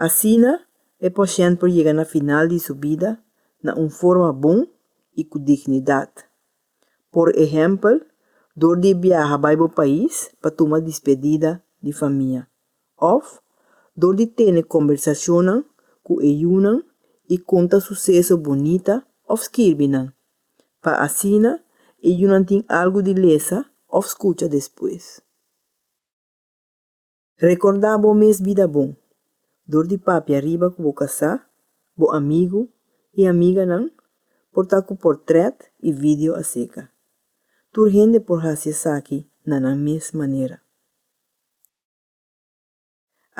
Asina e pashènt por yega na final di su bida na un forma bon i ku dignidat. Por ehèmpel, dor di biaha bai bo pais pa tuma dispedida di famia òf dor di tene kombersashonnan ku e yunan i konta suseso bunita òf skirbi nan, pa asina e yunan tin algu di lesa òf skucha despues. Rekordá bo mes bida bon. Dor di papia riba ku bo kasá, bo amigu i amiganan por ta ku portrèt i video aserka. Tur hende por hasi esaki na nan mes manera.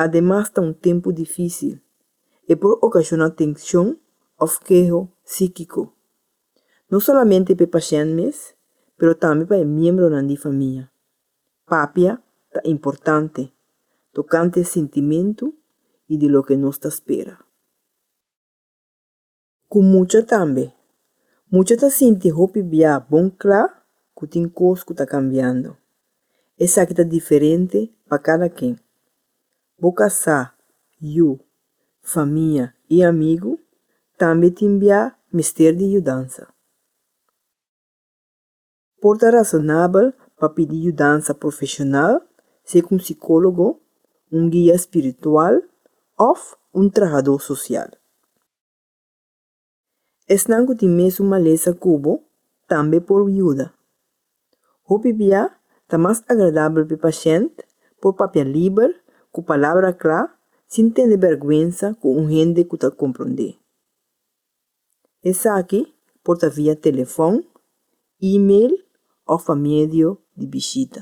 Ademas ta un tempu difísil. E por okashona tenshon òf keho síkiko, no solamente pa e pashènt mes, pero tambe pa e miembronan di famia. Papia ta importante tokante sintimentu i di loke nos ta spera. Ku mucha tambe. Mucha ta sinti hopi bia bon kla ku tin kos ku ta kambiando. Esaki ta diferente pa kada ken. Bo kasá, yu, famia i amigu tambe tin bia mester di yudansa. Por ta rasonabel pa pidi yudansa profeshonal, si'a ku un sikólogo, un guia spiritual òf un trahadó sosial. Esnan ku tin mesun malesa ku bo tambe por yuda. Hopi bia ta mas agradabel pa e pashènt por papia liber ku palabra kla sin tene bèrgwensa ku un hende ku ta komprond'é. Esaki por ta via telefòn, e-mail òf pa medio di bishita.